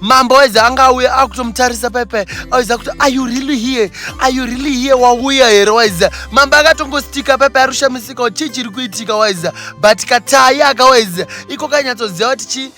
mambo aizi anga auya akutomutarisa paipai aiza kuti are you really here are you really here wauya here waiza mambo akatongositika paipai arushamisika kuti chii chiri kuitika waiza but katai aka waiza iko kanyatsoziva kuti chii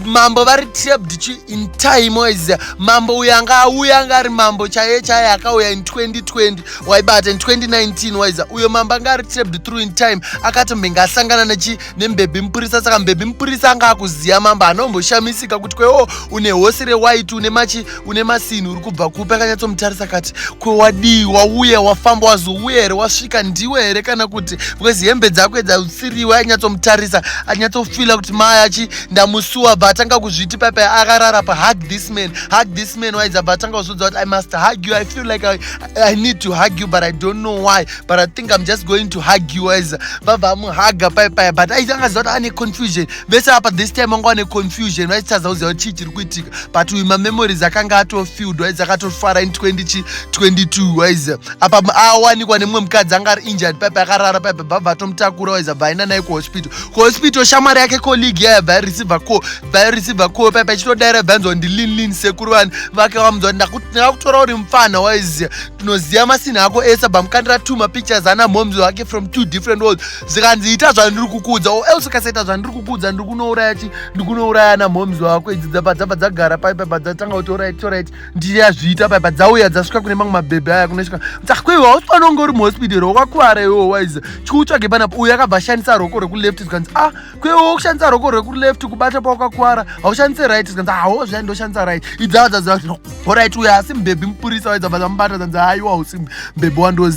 mambo vari trapped chi in time waiza mambo uyo anga auya anga ari mambo chaiye chaiye akauya in 2020 waibata in 2019 waiza uyo mambo anga ari trapped through in time akatombenge asangana nechi nembebhi mupurisa saka mbebhi mupurisa anga akuziva mambo anomboshamisika kuti kwewo oh, une hosi rewaiti une machi une masinhi uri kubva kupi akanyatsomutarisa kati kwewadii wauya wafamba wazouya here wasvika ndiwe here kana kuti because hembe dzako dzautsiriwe ainyatsomutarisa anyatsofila kuti maya achi ndamusuwa bva atanga kuzviti paipai akarara pa hug this man hug this man waidza bva atanga kuzodza kuti i must hug you i feel like I, i need to hug you but i don't know why but i think i'm just going to hug you as vabva amuhaga pai paya but aitanga ziva kuti ane confusion vese apa this time anga ane confusion vaitadza kuziva kuti chii chiri kuitika but uyu mamemories akanga atofilled waiz akatofara in 2022 waiz apa awanikwa nemumwe mukadzi anga ari injured pai paya akarara pai bva vatomutakura waiz abva aenda naye kuhospital kuhospital shamwari yake colleague yaya bva yareceive call bva yareceive call pai paya chitodaira bva yanzwa kuti ndilin lin sekuru vani vake vamunzwa kuti ndakutora uri mupfana waiz tinoziva masinha ako ese bamukandira two mapictures ana moms wake from two different world zvikanzi ita zvandiri kukuudza o else ukasaita zvandiri kukuudza ndiri kunouraya chi ndiri kunouraya ana moms wako idzi dzapa dzapa dzagara pai paipa dzatanga kuti orit torit ndiri yazviita paipa dzauya dzasvika kune mamwe mabhebhi aya kunosvika dzakwewa hausi pano unge uri muhospidero wakakuvara iwo waiza chikuutsvage panapa uyo akabva ashandisa roko rekuleft zvikanzi a ah, kwewo kushandisa roko rwekuleft kubata pawakakwara haushandise right zikanzi hawo zvai ndoshandisa right idzava dzaziva kuti horit uya asi mbebhi mupurisa waidza vazamubata zanzi haiwa hausi mbebhi wandozi